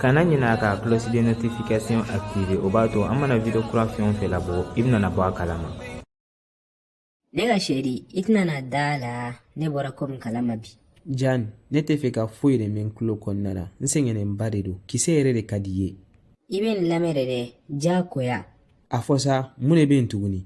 kana ɲinɛ a ka cloche de notification activer o b'a to an mana video kura fɛn o fɛn labɔ i bɛna bɔ a kalama ne ka chérie i tɛna da a la ne bɔra ko min kalama bi jan ne tɛ fɛ ka foyi de mɛn n tulo kɔnɔna na n sɛgɛnnenba de don kisɛ yɛrɛ de ka d'i ye i bɛ n lamɛn de dɛ diyagoya a fɔ sa mun de bɛ yen tuguni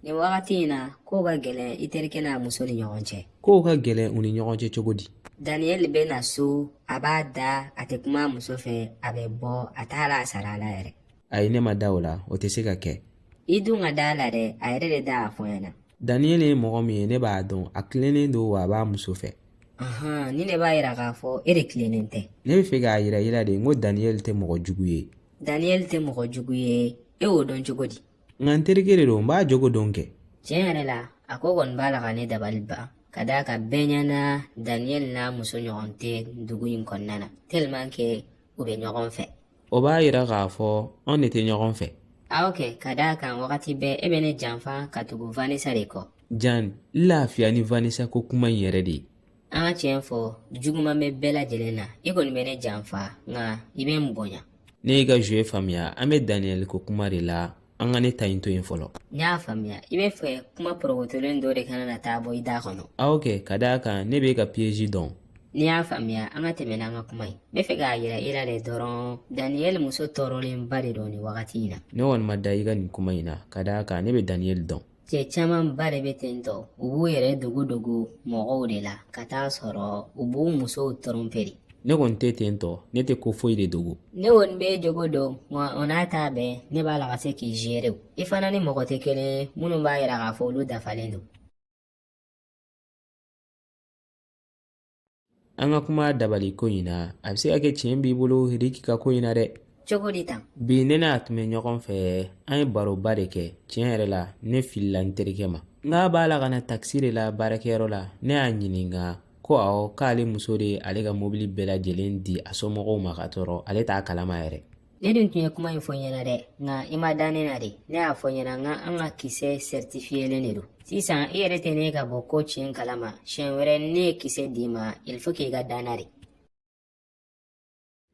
nin wagati in na kow ka gɛlɛn i terikɛ n'a muso ni ɲɔgɔn cɛ kow ka gɛlɛn u ni ɲɔgɔn cɛ cogo di daniyɛli bɛ na so a b'a da a tɛ kuma a muso fɛ a bɛ bɔ a t'a la a sara a la yɛrɛ ayi ne ma da o la o tɛ se ka kɛ i dun ka da a la dɛ a yɛrɛ de da y'a fɔ n ɲɛna daniyɛli ye mɔgɔ min ye ne b'a dɔn a tilennen don wa a b'a muso fɛ ahan nin de b'a yira k'a fɔ e de tilennen tɛ ne bɛ fɛ k'a yira i la de n ko daniyɛli tɛ mɔgɔ jugu ye daniyɛli tɛ mɔgɔ jugu ye e y'o dɔn cogo di nka n terikɛ de don n b'a jogo dɔn kɛ tiɲɛ yɛrɛ la a ko kɔni b'a la ka ne dabali ban ka d'a kan bɛɛ ɲɛna daniyɛli n'a muso ɲɔgɔn tɛ dugu in kɔnɔna na tellement que u bɛ ɲɔgɔn fɛ o b'a yira k'a fɔ anw de tɛ ɲɔgɔn fɛ awɔ kɛ ka d'a kan wagati bɛɛ e bɛ ne janfa ka tugu vanessa de kɔ jan n lafiya ni vanessa ko kuma in yɛrɛ de ye an ka tiɲɛ fɔ juguman bɛ bɛɛ lajɛlen na i kɔni bɛ ne janfa nka i bɛ n bonya ne y'i ka zuwe faamuya an bɛ daniyɛli ko kuma de la an ka ne ta in to yen fɔlɔ n y'a faamuya i bɛ fɛ kuma porokotolen dɔ de kana na taa bɔ i da kɔnɔ awɔ kɛ ka d'a kan ne b'e ka piyeji dɔn n'i y'a faamuya an ka tɛmɛ n'an ka kuma ye n bɛ fɛ k'a yira i la de dɔrɔn daniyɛli muso tɔɔrɔlenba de don nin wagati in na ne kɔni ma da i ka nin kuma in na ka d'a kan ne bɛ daniyɛli dɔn Cɛ camanba de bɛ ten tɔ u b'u yɛrɛ dogo dogo mɔgɔw de la ka t'a sɔrɔ u b'u musow tɔrɔnpe de ne kɔni tɛ ten tɔ ne tɛ ko foyi de dogo ne kɔni b'e jogo dɔn wa o n'a ta bɛɛ ne b'a la ka se k'i zere i fana ni mɔgɔ tɛ kelen ye minnu b'a yira k'a fɔ olu dafalen don an ka kuma dabali ko in na a bɛ se ka kɛ tiɲɛ b'i bolo riki ka ko in na dɛ cogo di tan bi ne n'a tun bɛ ɲɔgɔn fɛ an ye baroba de kɛ tiɲɛ yɛrɛ la ne filila n terikɛ ma n k'a b'a la ka na takisi de la baarakɛyɔrɔ la ne y'a ɲininka ko awɔ k'ale muso de ye ale ka mobili bɛɛ lajɛlen di a somɔgɔw ma ka t'a sɔrɔ ale t'a kalama yɛrɛ Ne dun tun ye kuma in fɔ i ɲɛna dɛ nka i ma da ne na de ne y'a fɔ i ɲɛna n k'an ka kisɛ sɛritifiyelen de don sisan i yɛrɛ tɛ nin ye ka bɔ ko tiɲɛ kalama siɲɛ wɛrɛ ne ye kisɛ d'i ma il faut k'i ka da n na de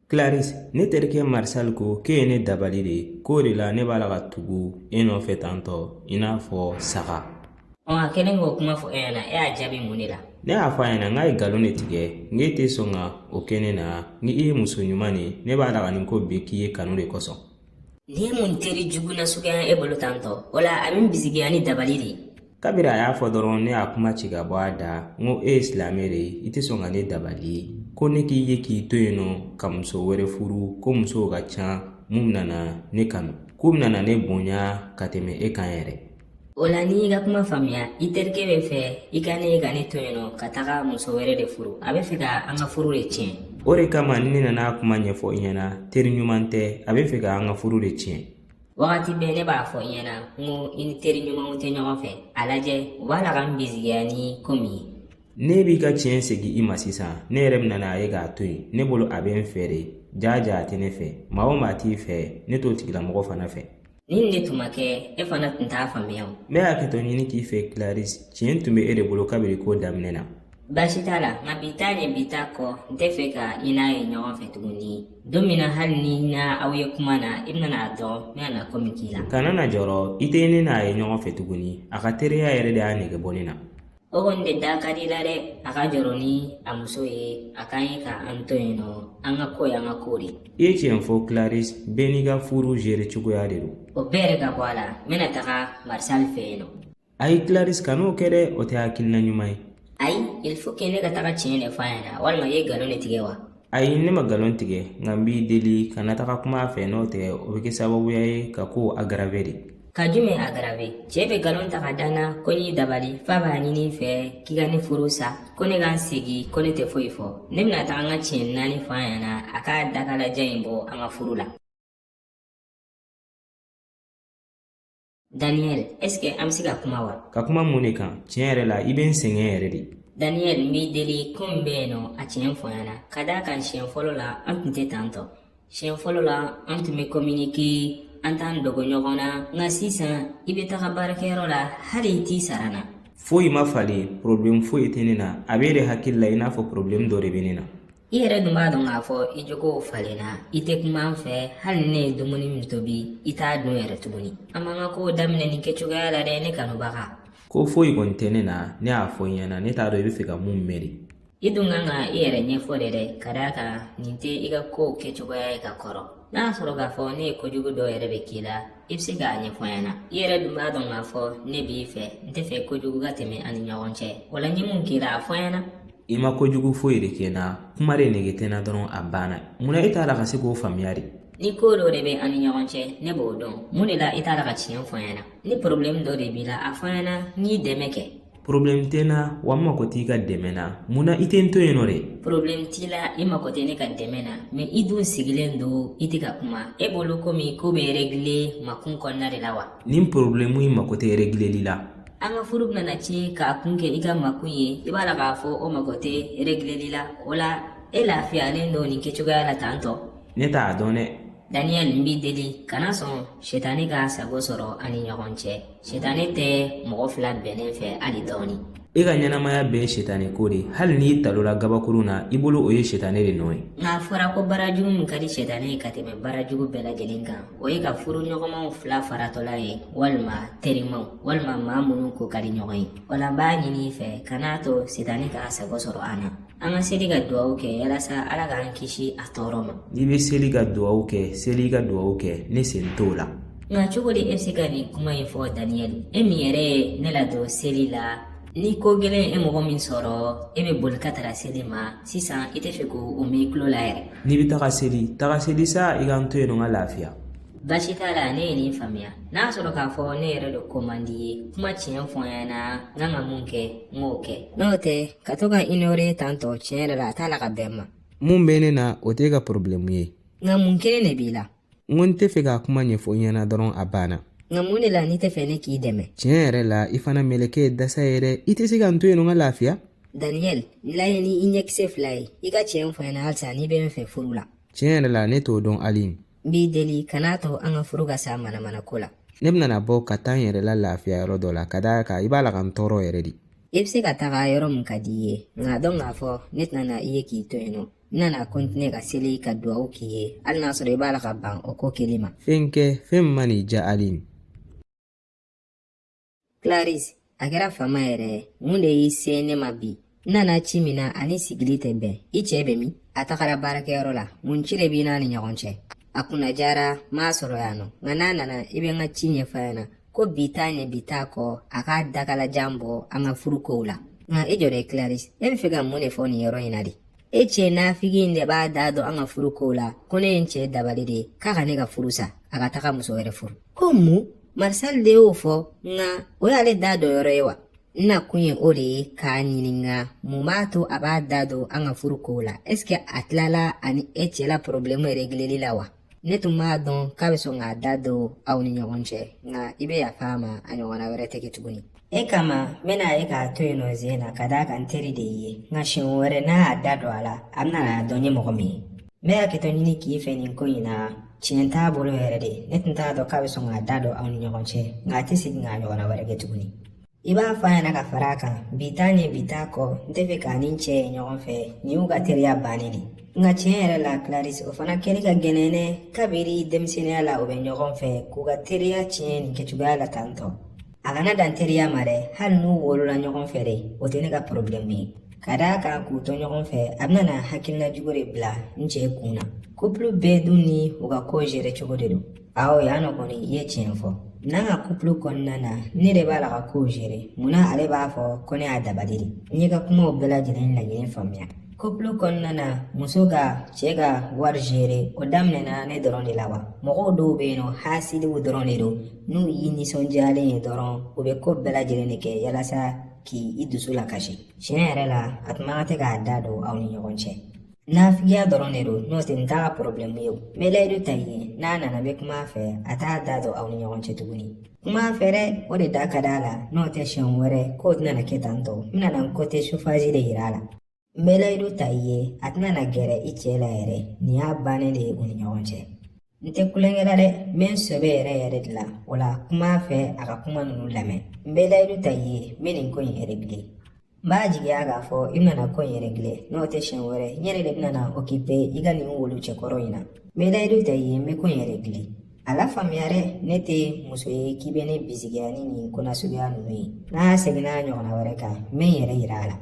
Clarisse ne terikɛ Marcel ko k'e ye ne dabali de k'o de la ne b'a la ka tugu e nɔfɛ tantɔ i n'a fɔ saga ɔ a kɛlen k'o kuma fɔ e ɲɛna e y'a jaabi mun de la ne y'a fɔ a ɲɛna n k'a ye nkalon de tigɛ n k'e tɛ sɔn ka o kɛ ne na n k'e ye muso ɲuman de ye ne b'a la ka nin ko bɛɛ k'i ye kanu de kosɔn nin ye mun teri jugu na suguya e bolo tan tɔ o la a bɛ n bisigiya ni dabali de ye kabiri a y'a fɔ dɔrɔn ne y'a kuma ci ka bɔ a da n ko e ye silamɛ de ye i tɛ sɔn ka ne dabali ko ne k'i ye k'i to yen nɔ ka muso wɛrɛ furu ko musow ka ca min bɛna na ne kanu k'u bɛna na ne bonya ka tɛmɛ e kan yɛrɛ o la n'i y'i ka kuma faamuya i terikɛ bɛ fɛ i ka ne ye ka ne to yen nɔ ka taga muso wɛrɛ de furu a bɛ fɛ ka an ka furu de tiɲɛ o de kama ne nana a kuma ɲɛfɔ i ɲɛna teri ɲuman tɛ a bɛ fɛ ka an ka furu de tiɲɛ wagati bɛɛ ne b'a fɔ i ɲɛna n ko i ni teri ɲumanw tɛ ɲɔgɔn fɛ a lajɛ u b'a la ka n bisigiya ni ko min ye ne b'i ka tiɲɛ segin i ma sisan ne yɛrɛ bɛna n'a ye k'a to yen ne bolo a bɛ n fɛ de jaa jaa a tɛ ne fɛ maa o maa t'i fɛ ne t'o tigilamɔgɔ fana fɛ Nin de tun ma kɛ e fana tun t'a faamuya o ne bɛ hakɛto ɲini k'i fɛ clarisse tiɲɛ tun bɛ e de bolo kabini ko daminɛ na baasi t'a la nka bi ta ni bi ta kɔ n tɛ fɛ ka i n'a ye ɲɔgɔn fɛ tuguni don min na hali ni n na aw ye kuma na i bɛna n'a dɔn n bɛna na ko min k'i la kana na jɔrɔ i tɛ ne n'a ye ɲɔgɔn fɛ tuguni a ka teriya yɛrɛ de y'a nege bɔ ne na O kɔni bɛ da ka di la dɛ a ka jɔrɔ ni a muso ye a ka ɲi ka an to yen nɔ an ka ko y'an ka ko de i ye tiɲɛ fɔ clarisse bɛɛ n'i ka furu gérer cogoya de don o bɛɛ yɛrɛ ka bɔ a la n bɛna taga martial fɛ yen nɔ ayi clarisse kan'o kɛ dɛ o tɛ hakilina ɲuman ye ayi il faut que ne ka taga tiɲɛ de fɔ a ɲɛna walima i ye nkalon de tigɛ wa Ayi ne ma galon tigɛ nka n b'i deli kana taga kuma a fɛ n'o tɛ o bɛ kɛ sababuya ye ka kow aggraver de ka jumɛn aggraver cɛ bɛ galon ta ka da n na ko n y'i dabali f'a b'a ɲini i fɛ k'i ka ne furu sa ko ne ka n sigi ko ne tɛ foyi fɔ ne bɛna taga n ka tiɲɛ naani fɔ a ɲɛna a ka dakalajɛ in bɔ an ka furu la Daniel, est-ce que an bɛ se ka kuma wa? Ka kuma mun de kan? Tiɲɛ yɛrɛ la, i bɛ n sɛgɛn yɛrɛ de. Daniel n b'i deli ko min bɛ yen nɔ, a tiɲɛ fɔ n ɲɛna. Ka d'a kan siɲɛ fɔlɔ la, an tun tɛ tan tɔ. Siɲɛ fɔlɔ la, an tun bɛ communiquer, an t'an dogo ɲɔgɔn na. Nka sisan, i bɛ taga baarakɛyɔrɔ la, hali i t'i sara n na. Foyi ma falen, problème foyi tɛ ne na. A bɛ e de hakili la i n'a fɔ problème dɔ de bɛ ne na. i yɛrɛ dun b'a dɔn k'a fɔ i jogow falenna i tɛ kuma n fɛ hali ne ye dumuni min tobi i t'a dun yɛrɛ tuguni an m'an ka kow daminɛ nin kɛcogoya la dɛ ne kanubaga ko foyi kɔni tɛ ne na ne y'a fɔ i ɲɛna ne t'a dɔn i bɛ fɛ ka mun mɛn de i dun kan ka i yɛrɛ ɲɛfɔ de dɛ ka d'a kan nin tɛ i ka kow kɛcogoya ye ka kɔrɔ n'a y'a sɔrɔ k'a fɔ ne ye kojugu dɔ yɛrɛ bɛ k'i la i bɛ se k'a ɲɛfɔ n ɲɛna i yɛrɛ dun b'a dɔn k'a fɔ ne b'i fɛ n tɛ fɛ kojugu ka tɛmɛ an ni ɲɔgɔn cɛ o la n ye mun k'i la a fɔ n ɲɛna i ma ko jugu foyi de kɛ n na kuma de nege tɛ n na dɔrɔn a banna munna e t'a la ka se k'o faamuya de ni ko dɔ de bɛ an ni ɲɔgɔn cɛ ne b'o dɔn mun de la i t'a la ka tiɲɛ fɔ n ɲɛna ni porobilɛmu dɔ de b'i la a fɔ n ɲɛna n y'i dɛmɛ kɛ porobilɛmu tɛ n na wa n mago t'i ka dɛmɛ na munna i tɛ n to yen nɔ de porobilɛmu t'i la i mago tɛ ne ka dɛmɛ na mɛ i dun sigilen don i tɛ ka kuma e bolo komi ko bɛ regile makun kɔnɔna de la wa nin porobilɛmu in mago tɛ regileli la an ka furu bɛna ci k'a kun kɛ i ka makun ye i b'a la k'a fɔ o mago tɛ regileli la o la e lafiyalen don nin kɛcogoya la tan tɔ ne t'a dɔn dɛ daniyɛli n b'i deli kana sɔn sitani k'a sago sɔrɔ an ni ɲɔgɔn cɛ sitani tɛ mɔgɔ fila bɛnnen fɛ hali dɔɔni i ka ɲɛnamaya bɛɛ ye sitani ko de hali n'i talola gabakurun na i bolo o ye sitani de nɔ ye nka a fɔra ko baarajugu min ka di sitani ye ka tɛmɛ baarajugu bɛɛ lajɛlen kan o ye ka furuɲɔgɔnmaw fila faratɔla ye walima terimaw walima maa minnu ko ka di ɲɔgɔn ye o la n b'a ɲini i fɛ kan'a to sitani k'a sago sɔrɔ an na an ka seli ka duwawu kɛ yalasa ala k'an kisi a tɔɔrɔ ma n'i bɛ seli ka duwawu kɛ seli ka duwawu kɛ ne sen t'o la nka cogo di e bɛ se ka nin kuma in fɔ daniyɛli e min yɛrɛ ye ne ladon seli la Ni ko gɛlɛn ye mɔgɔ min sɔrɔ e bɛ boli ka taga seli ma sisan i tɛ fɛ k'o mɛn i tulo la yɛrɛ n'i bɛ taga seli taga seli sa i ka n to yen nɔ n ka lafiya baasi t'a la ne ye nin faamuya n'a sɔrɔ k'a fɔ ne yɛrɛ de ko man di i ye kuma tiɲɛ fɔ n ɲɛna n kan ka mun kɛ n k'o kɛ n'o tɛ ka to ka n inore tan tɔ tiɲɛ yɛrɛ la a t'a la ka bɛn n ma mun bɛ ne na o t'e ka porobilɛmu ye nka mun kelen de b'i la n ko n tɛ fɛ k'a kuma ɲɛfɔ i ɲɛna dɔrɔn a banna nka mun de la n'i tɛ fɛ ne k'i dɛmɛ tiɲɛ yɛrɛ la i fana meleke ye dasa ye dɛ i tɛ se ka n to yen nɔ n ka lafiya daniyɛl n lajɛ ni i ɲɛkisɛ fila ye i ka tiɲɛ fɔ n ɲɛna halisa n'i bɛ n fɛ furu la tiɲɛ yɛrɛ la ne t'o dɔn hali n b'i deli kan'a to an ka furu ka sa manamana ko la ne bɛna bɔ ka taa n yɛrɛ la lafiya yɔrɔ dɔ la ka d'a kan i b'a la ka n tɔɔrɔ yɛrɛ de i bɛ se ka taga yɔrɔ min ka di i ye nka a dɔn k'a fɔ ne tɛna na i ye k'i to yen nɔ n na na kɔntine ka seli ka duwawu k'i ye hali n'a sɔrɔ i b'a la ka ban o ko keli ma fɛn kɛ fɛn min man'i diya ali claris a kɛra fama yɛrɛ ye mun de y'i se ne ma bi n nana ci min na a ni sigili tɛ bɛn i cɛ bɛ min a tagara baarakɛyɔrɔ la mun ci de b'i n'a ni ɲɔgɔn cɛ a kunna diyara n m'a sɔrɔ yan nɔ nka n'a nana i bɛ n ka ci ɲɛfɔ a ɲɛna ko bi t'a ɲɛ bi t'a kɔ a k'a dakalajan bɔ an ka furu kow la nka i jɔ dɛ claris e bɛ fɛ ka mun de fɔ nin yɔrɔ in na de e cɛ nafigi in de b'a da don an ka furu kow la ko ne ye n cɛ dabali de k'a ka ne ka furu sa a ka taga muso wɛrɛ furu ko mun marisal de y'o fɔ nka o y'ale da don yɔrɔ ye wa n nakun ye o de ye k'a ɲininka mun b'a to a b'a da don an ka furu kow la ɛsike a tilala a ni e cɛ la porobilɛmu yɛrɛ regileli la wa ne tun b'a dɔn k'a bɛ sɔn k'a da don aw ni ɲɔgɔn cɛ nka i bɛ yafa a ma a ɲɔgɔnna wɛrɛ tɛ kɛ tuguni e kama n bɛna ye k'a to yen nɔ Zeyna ka d'a kan n teri de ye nka siɲɛ wɛrɛ n'a y'a da don a la a bɛna n'a dɔn n ye mɔgɔ min ye n bɛ hakɛto ɲini k'i fɛ nin ko in na tiɲɛ t'a bolo yɛrɛ de ne tun t'a dɔn k'a bɛ sɔn k'a da don aw ni ɲɔgɔn cɛ nka a tɛ segin k'a ɲɔgɔnna wɛrɛ kɛ tuguni I b'a fɔ a ɲɛna ka fara a kan bi t'a ɲɛ bi t'a kɔ n tɛ fɛ k'a ni n cɛ ye ɲɔgɔn fɛ nin y'u ka teriya bannen de nka tiɲɛ yɛrɛ la Clarisse o fana kɛli ka gɛlɛn dɛ kabiri denmisɛnninya la u bɛ ɲɔgɔn fɛ k'u ka teriya tiɲɛ nin kɛcogoya la tan tɔ a kana dan teriya ma dɛ hali n'u wolola ɲɔgɔn fɛ de o tɛ ne ka porobilɛmu ye ka d'a kan k'u to ɲɔgɔn fɛ a bɛna na hakilina jugu de bila n cɛ kun na kupulu bɛɛ dun ni u ka ko gere cogo de don Aw yan nɔ kɔni i ye tiɲɛ fɔ n'an ka kupulu kɔnɔna na ne de b'a la ka kow gere munna ale b'a fɔ ko ne y'a dabali de n y'i ka kumaw bɛɛ lajɛlen lajɛlen faamuya kupulu kɔnɔna na muso ka cɛɛ ka wari gere o daminɛna ne dɔrɔn de la wa mɔgɔw dɔw be yen nɔ hasidiw dɔrɔn de don n'u y'i ninsɔndiyalen ye dɔrɔn u be koo bɛɛ lajɛlen de kɛ yalasa k'i dusu lakasi tiɲɛ yɛrɛ la a tun man kan tɛ k'a da don aw ni ɲɔgɔn cɛ Nafigiya dɔrɔn de don n'o tɛ nin t'a ka porobilɛmu ye o n bɛ layidu ta i ye n'a nana n bɛ kuma a fɛ a t'a da don aw ni ɲɔgɔn cɛ tuguni kuma a fɛ dɛ o de da ka d'a la n'o tɛ siɲɛ wɛrɛ kow tɛna na kɛ tan tɔ n bɛna n kote sovazi de yira a la n bɛ layidu ta i ye a tɛna gɛrɛ i cɛ la yɛrɛ nin y'a bannen de ye u ni ɲɔgɔn cɛ n tɛ tulonkɛ la dɛ n bɛ n sɛbɛ yɛrɛ yɛrɛ de la o la kuma a fɛ a ka kuma ninnu lamɛn n bɛ layidu ta i ye n bɛ nin ko in eregile n b'a jigiya k'a fɔ i bɛna ko in eregile n'o tɛ siɲɛ wɛrɛ n yɛrɛ de bɛna okipe i ka nin wulu cɛkɔrɔ in na n bɛ layidu ta i ye n bɛ ko in eregile a lafaamuya dɛ ne tɛ muso ye k'i bɛ ne bisigiya ni nin ko nasuguya ninnu ye n'a seginna a ɲɔgɔnna wɛrɛ kan n bɛ n yɛrɛ yira a la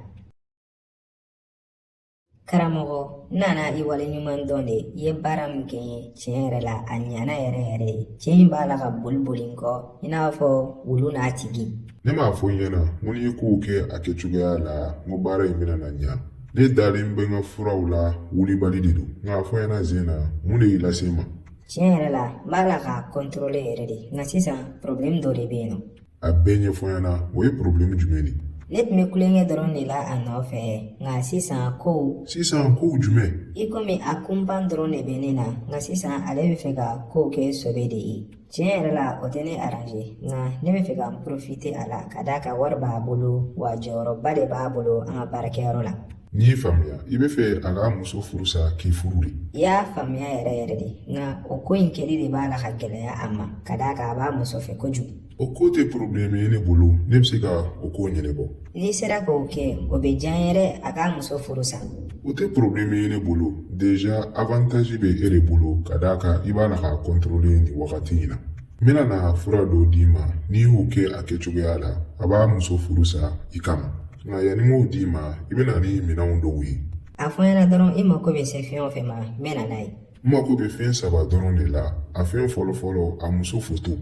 karamɔgɔ n nana i waleɲuman dɔn de i ye baara min kɛ n ye tiɲɛ yɛrɛ la a ɲana yɛrɛ yɛrɛ ye cɛ in b'a la ka boli boli n kɔ i n'a fɔ wulu n'a tigi ne m'a fɔ i ɲɛna n ko n'i ye kow kɛ a kɛ cogoya la n ko baara in bɛna na ɲa ne dalen bɛ n ka furaw la wulibali de don nka a fɔ n ɲɛna Zeyna mun de y'i lase n ma tiɲɛ yɛrɛ la n b'a la k'a kɔntɔrɔle yɛrɛ de nka sisan porobilɛmu dɔ de bɛ yen nɔ a bɛɛ ɲɛfɔ n ɲɛna o ye porobilɛmu jumɛn de ye ne tun bɛ tulonkɛ dɔrɔn de la a nɔfɛ nka sisan kow sisan kow jumɛn i komi a kunpan dɔrɔn de bɛ ne na nka sisan ale bɛ fɛ ka kow kɛ sɔbɛ de ye tiɲɛ yɛrɛ la o tɛ ne aranze nka ne bɛ fɛ ka n porofite a la ka d'a kan wari b'a bolo wa jɔyɔrɔba de b'a bolo an ka baarakɛyɔrɔ la N y'i faamuya i b'a fɛ a k'a muso furu sa k'i furu de i y'a faamuya yɛrɛ yɛrɛ de nka o ko in kɛli de b'a la ka gɛlɛya a ma ka d'a kan a b'a muso fɛ kojugu o ko tɛ porobilɛmu ye ne bolo ne bɛ se ka o ko ɲɛnabɔ n'i sera k'o kɛ o bɛ diya n ye dɛ a k'a muso furu sa o tɛ porobilɛmu ye ne bolo deja avantazi bɛ e de bolo ka d'a kan i b'a la k'a kɔntorole nin wagati in na n bɛna na fura dɔw d'i ma n'i y'o kɛ a kɛcogoya la a b'a muso furu sa i kama Nka yanni n k'o d'i ma i bɛ na ni minɛnw dɔw ye a fɔ n ɲɛna dɔrɔn i mako bɛ se fɛn o fɛn ma n bɛ na n'a ye n mako bɛ fɛn saba dɔrɔn de la a fɛn fɔlɔ fɔlɔ a muso foto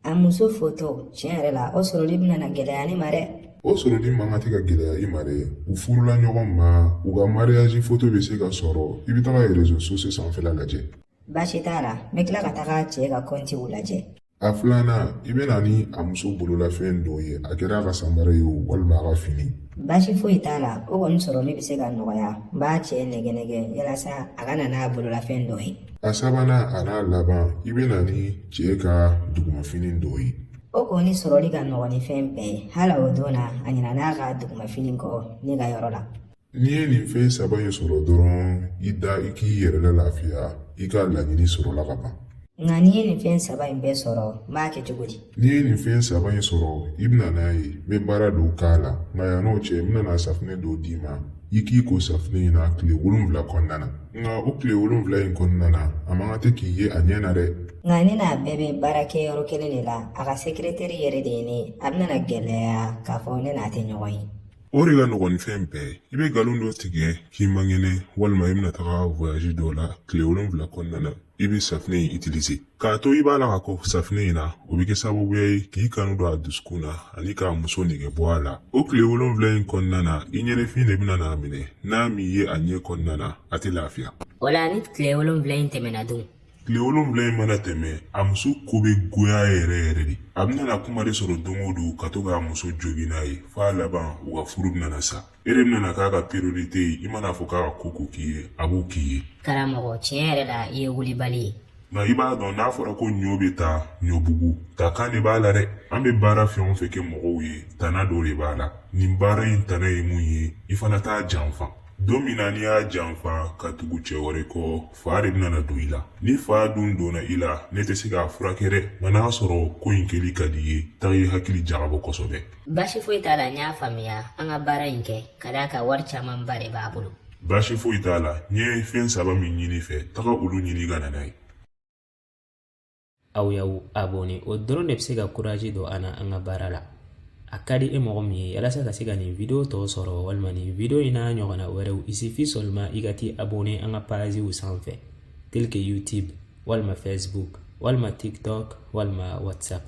a muso foto tiɲɛ yɛrɛ la o sɔrɔli bɛna na gɛlɛya ne ma dɛ o sɔrɔli man kan tɛ ka gɛlɛya i ma dɛ u furula ɲɔgɔn ma u ka mariyazi foto bɛ se ka sɔrɔ i bɛ taga rezo sosiyo sanfɛla lajɛ baasi t'a la n bɛ tila ka taga cɛ ka kɔntiw lajɛ A filanan i bɛ na ni a muso bololafɛn dɔ ye a kɛra a ka samara ye o walima a ka fini baasi foyi t'a la o kɔni sɔrɔli bɛ se ka nɔgɔya n b'a cɛ nɛgɛn nɛgɛn yalasa a ka na n'a bololafɛn dɔ ye a sabanan a n'a laban i bɛ na ni cɛ ka dugumafini dɔ ye o kɔni sɔrɔli ka nɔgɔn ni fɛn bɛɛ ye hali o don na a ɲinan'a ka dugumafini kɔ ne ka yɔrɔ la N'i ye nin fɛn saba in sɔrɔ dɔrɔn i da i k'i yɛrɛ lalafiya i ka laɲini sɔrɔla ka ban nka ni n ye nin fɛn saba in bɛɛ sɔrɔ n b'a kɛ cogo di n'i ye nin fɛn saba in sɔrɔ i bɛna n'a ye n bɛ baara dɔw k'a la nka yan n'o cɛ n bɛna na safinɛ dɔ d'i ma i k'i ko safinɛ in na tile wolonwula kɔnɔna na nka o tile wolonwula in kɔnɔna na a man kan tɛ k'i ye a ɲɛ na dɛ nka ne n'a bɛɛ bɛ baara kɛ yɔrɔ kelen de la a ka sekiretɛri yɛrɛ de ye ne ye a bɛna na gɛlɛya k'a fɔ ne n'a tɛ ɲɔgɔn ye O de ka nɔgɔn ni fɛn bɛɛ ye i bɛ nkalon dɔ tigɛ k'i man kɛnɛ walima i bɛna taga voyage dɔ la tile wolonwula kɔnɔna na i bɛ safinɛ in utiliser k'a to i b'a la ka ko safinɛ in na o bɛ kɛ sababuya ye k'i kanu don a dusukun na ani k'a muso nege bɔ a la o tile wolonwula in kɔnɔna na i ɲɛnafin de bɛna n'a minɛ n'a m'i ye a ɲɛ kɔnɔna na a tɛ lafiya o la ni tile wolonwula in tɛmɛna dun tile wolonwula in mana tɛmɛ a muso ko bɛ goya yɛrɛ yɛrɛ de a bɛna na kuma de sɔrɔ don o don ka to k'a muso jogin n'a ye f'a laban u ka furu bɛna sa e de bɛna k'a ka priorite ye i man'a fɔ k'a ka ko o ko k'i ye a b'o k'i ye karamɔgɔ tiɲɛ yɛrɛ la i ye wulibali ye nka i b'a dɔn n'a fɔra ko ɲɔ bɛ taa ɲɔbugu taakan de b'a la dɛ an bɛ baara fɛn o fɛn kɛ mɔgɔw ye tana dɔ de b'a la nin baara in tana ye mun ye i fana t'a janfa don min na n'i y'a janfa ka tugu cɛ wɛrɛ kɔ fa de bɛna na don i la ni fa dun donna i la ne tɛ se k'a furakɛ dɛ nka n'a sɔrɔ ko in kɛli ka d'i ye taga i hakili jagabɔ kosɛbɛ baasi foyi t'a la n y'a faamuya an ka baara in kɛ ka d'a kan wari camanba de b'a bolo baasi foyi t'a la n ye fɛn saba min ɲini i fɛ taga olu ɲini ka na n'a ye aw y'aw abonné o dɔrɔn de bɛ se ka kurazi don an na an ka baara la a ka di e mɔgɔ min ye yalasa ka se ka nin video tɔ sɔrɔ walima nin video in n'a ɲɔgɔnna wɛrɛw il suffit seulement i ka t'i abonné an ka paziw sanfɛ tel que youtube walima facebook walima tiktok walima whatsapp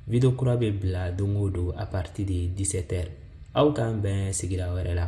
video kura bɛ bila don o don à partir de 17 heures aw k'an bɛn siɲɛ wɛrɛ la